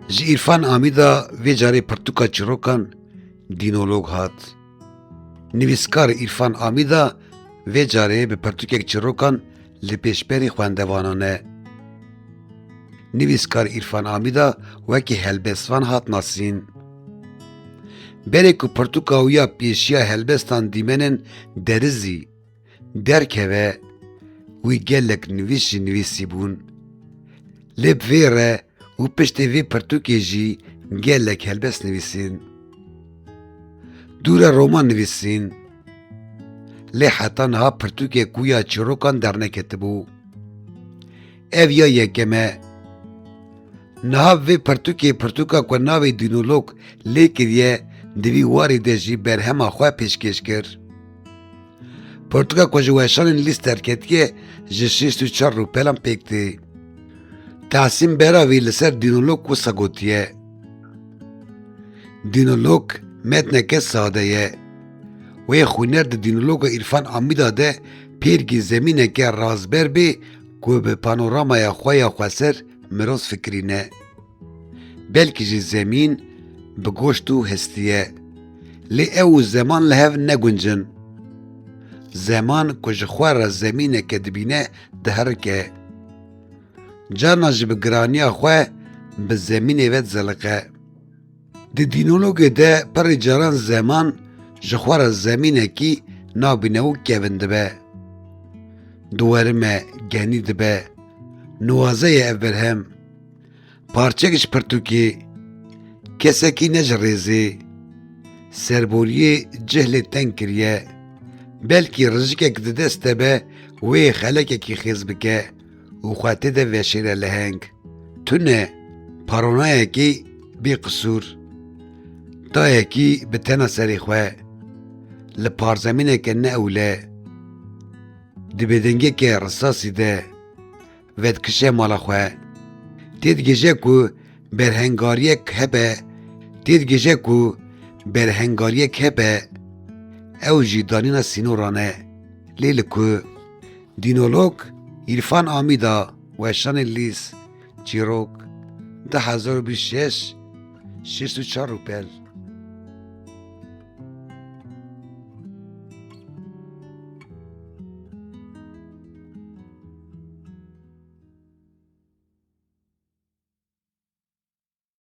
Ji Îrfan Amîda vê carê pirtûka çîrokan dînolog hat. Nivîskar Îrfan Amîda vê carê bi pirtûkek çîrokan li pêşberî xwendevanan e. Nivîskar Îrfan Amîda wekî helbestvan hat nasîn. Berê ku pirtûka wî ya pêşiya helbestan dîmenên derizî, derkeve wî gelek nivîs jî nivîsîbûn. Lê bi vê re û piştê vê pirtûkê jî gelek helbes nivîsîn. Dûre roman nivîsîn. Lê heta niha pirtûkê ku ya çîrokan derneketibû. Ev ya yekem e. Niha vê pirtûkê pirtûka ku navê dînolog lê kiriye di vî warê de jî berhema xwe pêşkêş kir. Pirtûka ku ji weşanên lîst derketiye ji şêst û çar rûpelan pêk tê. Tahsîn Beravî li ser dînolog wisa gotiye. Dînolog metneke sade ye. Wê xwîner di dînologa Îrfan Amîda de pêrgî zemîneke razber bê Ku bi panoramaya xwe ya xweser miroz fikirîne. Belkî jî zemîn bi goşt û hestî ye. Lê ew û zeman li hev neguncin. Zeman ku ji xwe re zemîneke dibîne diherike. Carna jî bi giraniya xwe bi zemînê ve dizeliqe. Di dînologê de perê caran zeman ji xwe re zemînekî nabîne û kevin dibe. Di werime genî dibe, nuwaze ye ev berhem. Parçek ji pirtûkê, kesekî ne ji rêzê. Serboriyê cih lê teng kiriye. Belkî rijikek di dest te be wê xelekekî xêz bike. û xwe tê de veşêre leheng. Tu ne paronayekî bî qisûr, dayekî bi tena serê xwe li parzemîneke ne ewle di bêdengeke risasî de vedikişe mala xwe. Tê digihîje ku berhengariyek hebe tê digihîje ku berhengariyek hebe ew jî danîna sînoran e. Lê li ku? Dînolog Îrfan Amîda weşanî lîz, çîrok, du hezar û bîst û şeş, şêst û çar rûpel.